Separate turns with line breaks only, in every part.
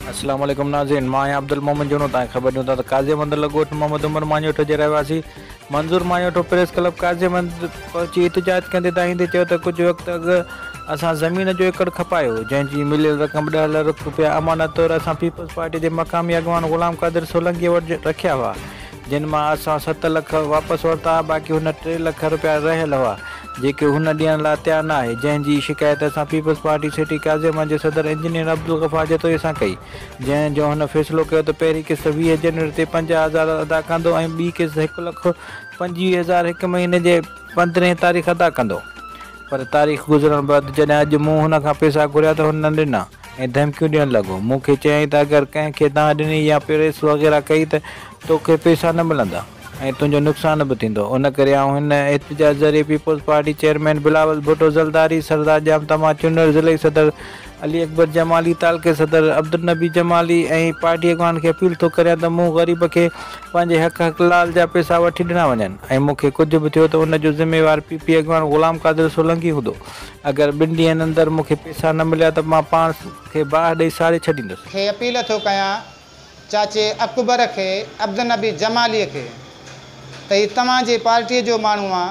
اسلام عليڪم ناظرين مان آهيان عبدالمومن جهونو توهان کي خبر ڏيون ٿا ته قاضي مند لڳ ڳوٺ محمد عمر ماڃوٺو جي رهواسي منظور ماڃوٺو پريس ڪلب قاضي مند پهچي احتجاج ڪندي دانهيندي چيو ته ڪجهه وقت اڳ اسان زمين جو ايڪڙ کپايو جنهن جي مليل رقم ڏهه لرک رپيا امانت طور اسان پيپلز پارٽي جي مقامي اڳواڻ غلام قادر سولنگي وٽ رکيا هئا جن مان اسان ست لک واپس ورتا، باقي هن ٽي لک رپيا رهيل هئا، جيڪي هن ڏيڻ لاء تيار نه آهي، جنهن جي شڪايت اسان پيپلز پارٽي سٽي ڪازيما جي صدر انجنيئر عبدالغفار جتوئي سان ڪئي، جنهن جو هن فيصلو ڪيو ته پهرين قسط ويهه جنوري تي پنجاهه هزار ادا ڪندو ۽ ٻي قسط هڪ لک پنجويهه هزار هڪ مهيني جي پندرهين تاريخ ادا ڪندو، پر تاريخ گذرڻ بعد جڏهن اڄ مون هن کان پئسا گهريا ته هن نه ڏنا. ۽ ڌمڪيون ڏيڻ لڳو. مون کي چيائين ته اگر ڪنهن کي دانهن ڏني يا پريس وغيره ڪئي ته توکي پئسا نه ملندا ۽ تنهنجو نقصان به ٿيندو. ان ڪري آئون هن احتجاج ذريعي peoples party chairman Bilawal Bhutto Zardari, Sardar Jam Taman Chanar, ضلعي صدر علي اڪبر جمالي، تعلقي صدر عبدالنبي جمالي ۽ پارٽي اڳواڻن کي اپيل ٿو ڪريان ته مون غريب کي پنهنجي حق حقلال جا پئسا وٺي ڏنا وڃن ۽ مون کي ڪجهه به ٿيو ته ان جو ذميوار پي پي اڳواڻ غلام قادر سولنگي هوندو. اگر ٻن ڏينهن اندر مون کي پيسا نه مليا ته مان پاڻ کي باهه ڏئي ساڙي ڇڏيندس. کي اپيل ٿو ڪيان
چاچي اڪبر کي، عبدالنبي جماليء کي، ته هي توهان جي پارٽيء جو ماڻهو آ،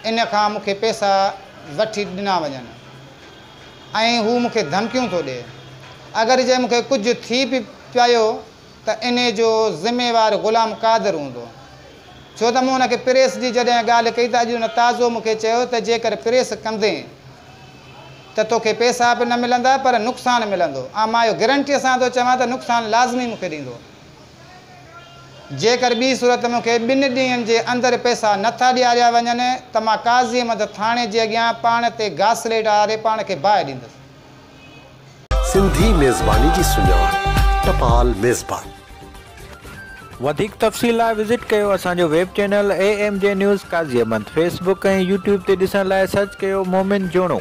ان کان مون کي پيسا وٺي ڏنا وڃن ۽ هو مون کي ڌمڪيون ٿو ڏئي. اگر جي مون کي ڪجهه ٿي به پيايو. ته انهي جو ذميوار غلام قادر هوندو ڇو ته مون ان کي پريس جي جڏهن ڳالهه ڪئي ته اڄ ان تازو مون کي چيو ته جيڪر پريس ڪندين ته تو کي پيسا به نه ملندا پر نقصان ملندو ۽ مان اهو گرنٽيء سان ٿو چوان ته نقصان لازمي مون کي ڏيندو جيڪر ٻي صورت مون کي ٻن ڏينهن جي اندر پيسا نه ٿا ڏياريا وڃن ته مان قاضي احمد ٿاڻي جي اڳيان پاڻ تي گاسليٽ آري پاڻ کي باهه ڏيندس. سنڌي
ميزباني جي سڃاڻ ٽپال ميزبان.
وڌيڪ تفصيل لاء وزٽ ڪيو اسان جو web channel A M G news Qazi Ahmed Facebook ۽ YouTube تي ڏسڻ لاء سرچ ڪيو مومن جوڻو.